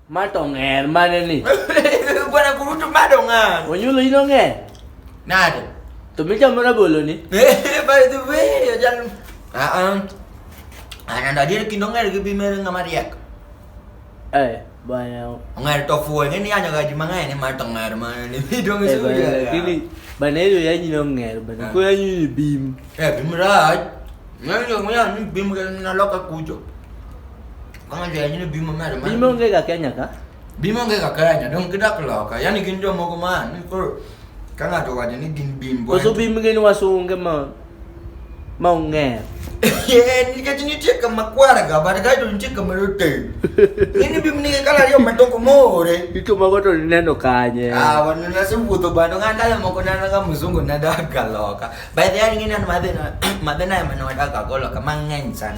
Mato ng'er mane ni? Bwana kurutu mado ng'er. Onyulo ino ng'er. Nade? To michamo rabolo ni? By the way, ojal. Ah ah. Ananda dir kindo ng'er gi bimere ng'ama riek. Eh, bwana. Ng'er to fuo ng'e ni anyo gaji mang'eny ni mato ng'er mane ni. Bidong eh, suya. Gini bana hiyo yanyi no ng'er bana. Eh. Kwa yanyi bim. Eh, bim raj. Ndio mwenye ni bimu na loka kujo. Kama ndio yanyine bimu mara mara. Bimu ngega Kenya ka? Bimu ngega Kenya don kidak loka. Yani kinjo mogo man ni ko kana to waje ni gin bimbo. Ko so bimu ngeni wasunge ma ma unge. Eh ni kaji ni tika makwara ga bar ga to ni tika marote. Nini bimu ni kala yo matoko more. Ito mago to neno kanye. Ah wanu na simu to bando ngandala moko na nga muzungu na daga loka. By the way, ngine an madhe na madhe na yamana wadaka golo kama ng'eny sana.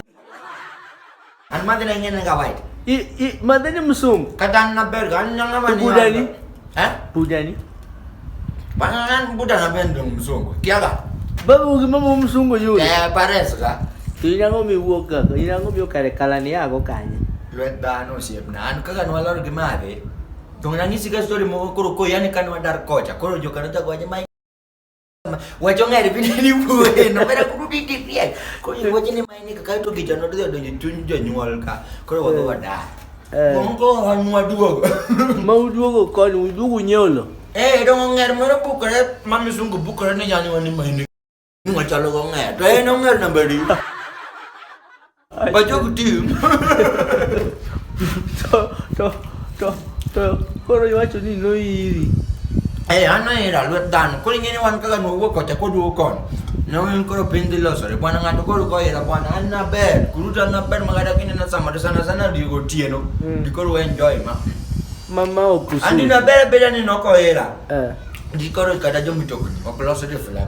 An madhe na ngine nga white. I i madhe ni msungu. Kata na berga an nyanga mani. Buda ni. Eh? Buda ni. Bana nan buda na bendo msungu. Kiaga. Babu ukimama msungu yule. Eh, pareso ka. Tuinango miwuoka, inango mi okare kalani yago kanye. Lwet dhano osiepna. An kaka nwalor gi madhe. Tong'na ng'isi ka story moko koro ko yani kan wadar kocha. Koro joka nochako wacho wachong'ere piny ni wuoyeno mera kuru ni tipiek koro iwacho ni mae ni kaka to kijana odhi odonjo e chuny jonyuol ka koro wadhi Eh. wadar Eh. moko an waduogo ma uduogo koni uduogo nyiewo lo eh dong ong'er moro bukore ma misungu bukore ni janyuol ni mae ni ni wachalo gong'er to en ong'er namba adi Ay, Bacı okudum. to, to, to, to, koro iwacho ni noiri. Eh, an noira lwet dhano. Koro ing'e ni wan kaka nwawuok kocha koduogo kon. Ne wan koro piny dhi losore. Bwana ng'ato koro koira bwana an naber. Kuruta naber ma kata kinena samoro sana sana digo otieno. Mm. Di koro enjoy ma. Mama okusu. Andi naber beda ni nokoira. Eh. Di koro kata jomitokni ok losore flag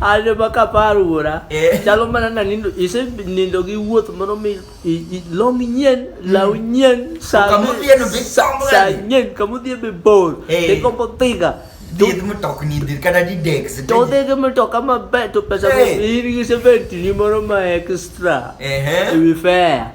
ajo ma kapar wuora eh. chalo mana na nindo ise nindo gi wuoth moro mi long nyien law hmm. nyien sa nyien kamudhie be bor eh. ikombo thiga Did mo talk ni dir kada di dex. To de ke mo talk ama bet to pesa ko ir gi se bet ni moro ma extra. Eh eh. We fair.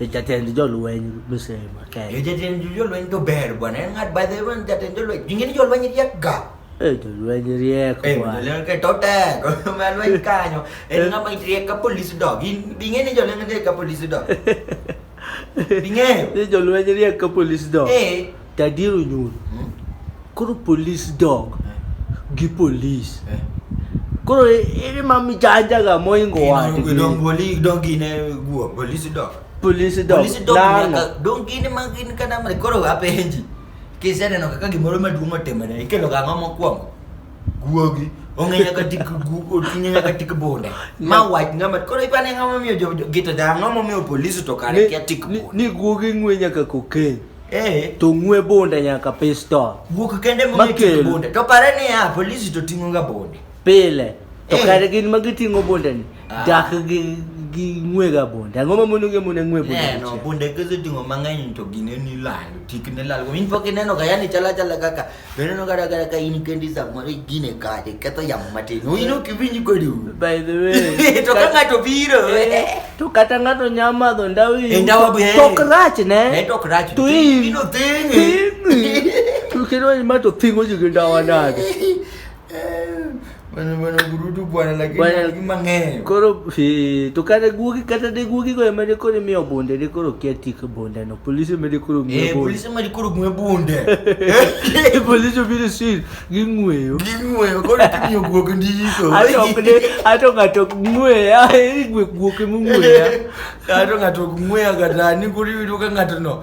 Jatend jolweny misema Kenya. Eh, jatend jolweny to ber bwana. En ng'at by the way jatend jolweny. Jingi ni jolweny riek ga. Eh, jolweny riek eh, bwana. Eh, jolweny ke to tek. Malweny kanyo. En ng'ama riek ka police dog. In binge ni jolweny riek ka police dog. Binge. Ni jolweny riek ka police dog. Eh. Daddy Ronyun, hmm? koro police dog eh. gi police. Eh. Koro ere ma mi janja ga mo ingo wa. Ingo dong boli dong gine guo police dog. Police dog. Police dog nyaka dong gine ma gin kana ma koro ga penji. Kise neno kaka gimoro maduong' otimore ikelo ga ng'ama mokwongo. Guogi ong'e nyaka tik oting'e nyaka tik bunde ma wach ng'ama koro ipane ng'ama miyo gito da ng'ama miyo polisi to kare kia tik ni guogi ng'we nyaka kokeny Eh. to ng'we bonde nyaka pistol Wuok kende Makel. mong'eyo bonde. To pare ni ya polisi to ting'oga bonde. pile to Eh. kare gin ma giting'o bondeni Ah. dak gi gi ng'wega bonde ang'o ma mono gimone ng'we bonde Neno dichiel? bonde kese ting'o mang'eny to gine ni lal. Tik ne lal. Min pok ineno ga yani chala chala kaka Beneno kata kata ka in kendi samoro igine kade ketho yamo matin. Ino kiwinj kodi. By the way. To ka ng'ato biro. Eh, to kata ng'ato nya madho ndawa iyi. Eh, ndawa be. Tok rach ne. Ne eh, tok rach. To iyi. Ino thing. To kendo ma to thingo ji gi ndawa nade. Bwana bwana gurudu bwana lakini Bwana- lakini mang'eyo. Koro si to kata guogi kata de guogi go emane koro imiyo bunde de koro kia tik bunde no polisi emane koro Eh, miyo bunde. polisi mali koro gwe bunde. Eh, Polisi obiro sir ging'weyo. Ging'weyo koro kimiyo guok ndiko. Ato ok ne ato ng'ato ok ng'weya eri gwe guoke mong'weya. Kato ng'ato ok ng'weya kata ni koro iyudo ka ng'ato no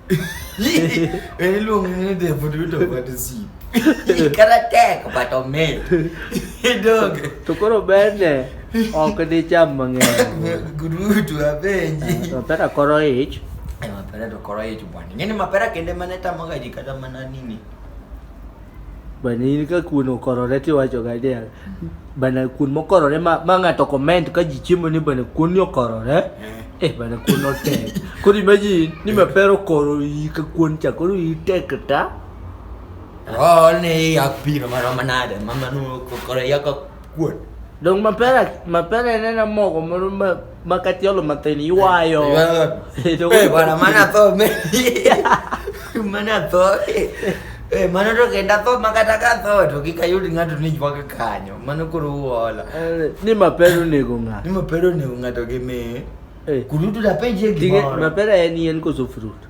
Ele lungo ne de fudu to bati si. Ikara tek but omed. Dog. To koro bende ok dicham mang'eny. Gurutu abenji. To pera koro ich. Mapera to koro ich bwana. Ngeni mapera kende mane tamoga ji kata mana nini. Bana in ka kuon okorore tiwacho ga dia. Bana kuon mokorore ma, ma ng'ato comment ka ji chiemo ni bana kuon ni okorore. Eh. Eh bana kuon otek. Koro imagine ni ma pero koro i ka kuon cha koro i tek ta. Oh, ni ya piro maro manade, mama nu kokore ya ka kuon. Dong mapera mapera nena mogo moro ma Makati yalo mateni iwayo. Eh, bwana mana tho me. Mana tho. Eh, mana to kenda tho makata ka tho to kika yudi ngato ni jwa kanyo. Mana kuru uola. Eh, ni mapero ni gunga. Ni mapero ni gunga to ke me. Eh. Kurutu da penje gimoro. Mapero eni en koso fruit.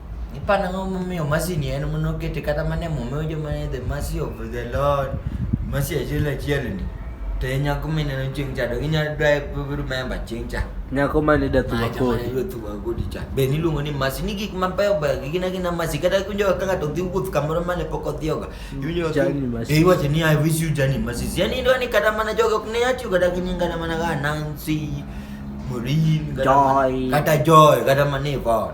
ipana ngo momiyo mercy ni en mono kete kata mane momiyo joma ne the mercy of the lord mercy achiel achiel ni to e nyako mineno chieng' cha to inyalo dwa remember chieng' cha nyako mane dathuwa kodi dathuwa kodi cha be niluongo ni mercy ni gik mabeyo beyo gi gina gina mercy kata kunjo ka ng'ato dhi wuoth kamoro mane pok odhiyoga mm, iwinjo e iwacho ni i wish you journey mercy yani indwa ni kata mana jogo ok ne yatiyo kata gi nyinga na mana ga nancy morin kata joy kata mana ivon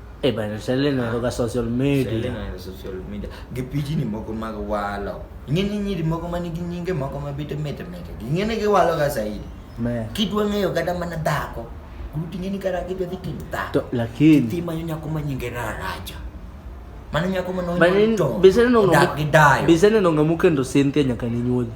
Eh bana, sale na roga social media. Sale na social media. Gipiji ni moko mag walo. Ing'e ni nyiri moko ma nigi nyinge moko ma bete mete mete. Ing'e ni giwalo ga zaidi. Me. Kidwa ng'eyo kata mana dhako. Gruti ng'e ni kara kidwa dhi tim dhako. To lakini. Ti manyo nyako ma nyinge raraja. Mano nyako ma nonyo to. Bisene nonga. Dak gi dayo. Bisene nonga mukendo Cynthia nyaka ni nyuoji.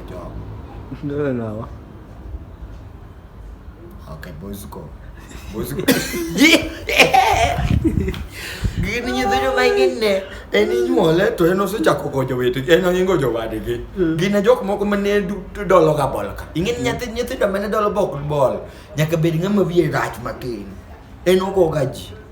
Job. Ndio nawa. Okay, boys go. Boys go. Gini nyithindo ma ingine en inyuole to en osechako gojo wete en oingo jowadgi. Mm. Gine jok moko ma ne dolo ga bol ka. Ingin mm. nyathi nyithindo ma ne dolo bok bol nyaka bed ng'ama wiye rach matin. En ogoga ji.